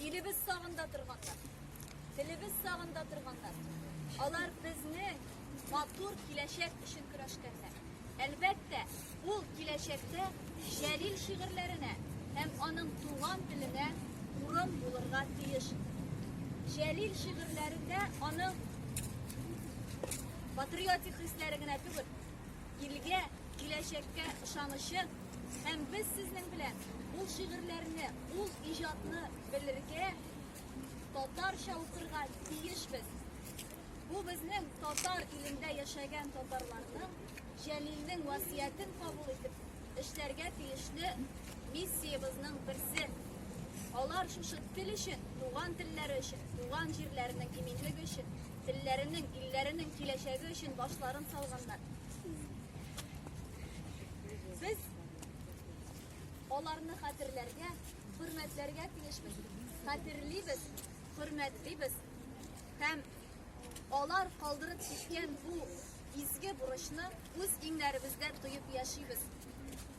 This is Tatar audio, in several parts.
Илебез сагында торганнар. Телебез сагында торганнар. Алар безнең матур киләчәк өчен көрәшкәннәр. Әлбәттә, ул киләчәктә Җәлил шигырьләренә һәм аның туган теленә урын булырга тиеш. Җәлил шигырьләрендә аның патриотик хисләре генә түгел, Илгә, киләчәккә ышанычы һәм без сезнең белән ул шигырьләрне, ул иҗатны белергә, татарча укырга тиешбез. Бу безнең татар илендә яшәгән татарларның Җәлилнең васыятен кабул итеп эшләргә тиешле миссиябезнең берсе. Алар шушы тел өчен, туган телләре өчен, туган җирләренең иминлеге өчен Телләренең, илләренең киләчәге өчен башларын салганнар. Без аларны хәтерләргә, хөрмәтләргә тиешбез. Хәтерлибез, хөрмәтлибез һәм алар калдырып киткән бу изге бурычны үз иңнәребездә тоеп яшибез.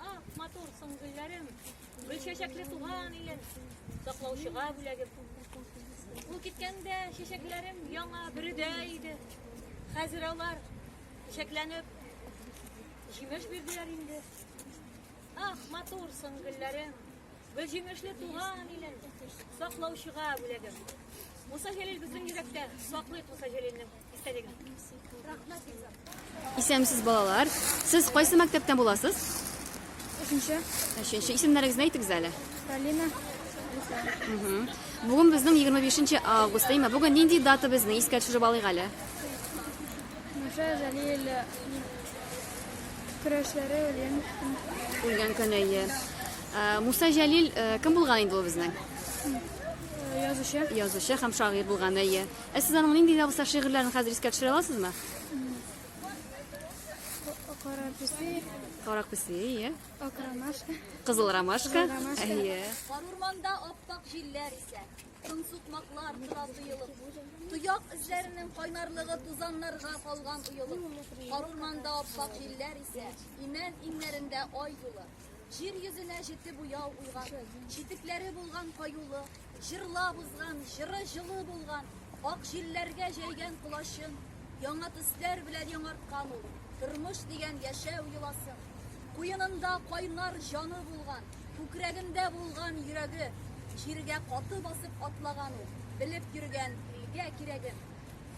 Ах, матур соң гөлләрем, гөл чәчәкле туган илем, саклаучыга бүләгем. Ул киткәндә чәчәкләрем яңа биредә иде. Хәзер алар чәчәкләнеп җимеш бирделәр инде. Ах, матур соң гөлләрем, гөл җимешле туган илем, саклаучыга бүләгем. Муса Җәлил безнең йөрәктә, саклыйк Муса Җәлилне. Исәнмесез, балалар. Сез кайсы мәктәптән буласыз? Өченче. Өченче. Исемнәрегезне әйтегез әле. Полина. Бүген безнең 25 август, әйме, бүген нинди дата безне искә төшереп алыйк әле? Муша Җәлил көрәшләре үлгән үлгән көне. Э, Муса Җәлил э, кем булган инде ул безнең? Э, язучы. Язучы һәм шагыйрь булган әйе. Ә сез аның нинди дә булса шигырьләрен хәзер искә төшерә аласызмы? Кара песи. Кара песи, иә. Ак ромашка. Кызыл ромашка. Иә. Кар урманда аптак җилләр исә. Тын сукмаклар тора тоелып. Тояк эзләренең кайнарлыгы тузаннарга калган уелып. Кар урманда аптак җилләр исә. Имән иңнәрендә ай юлы. Җир йөзенә җете буяу улган, читекләре булган каюлы, җырлап узган, җыры җылы булган, ак җилләргә җәйгән колачын, яңа төсләр белән яңарткан ул, тормыш дигән яшәү йоласын. Куенында кайнар җаны булган, күкрәгендә булган йөрәге, җиргә каты басып атлаган ул, белеп йөргән илгә кирәген.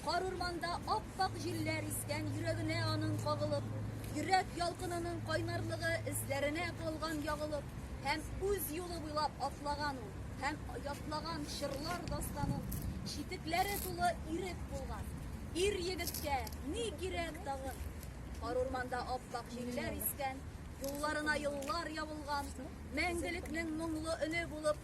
Кар урманда ап-ак җилләр искән йөрәгенә аның кагылып, йөрәк ялкынының кайнарлыгы эзләренә калган ягылып, һәм үз юлы буйлап атлаган ул, һәм ятлаган чырлар дастанын, читекләре тулы ирек булган. Ир егеткә ни кирәк тагын? Кар урманда ап-ак җилләр искән, юлларына еллар ябылган, мәңгелекнең моңлы өне булып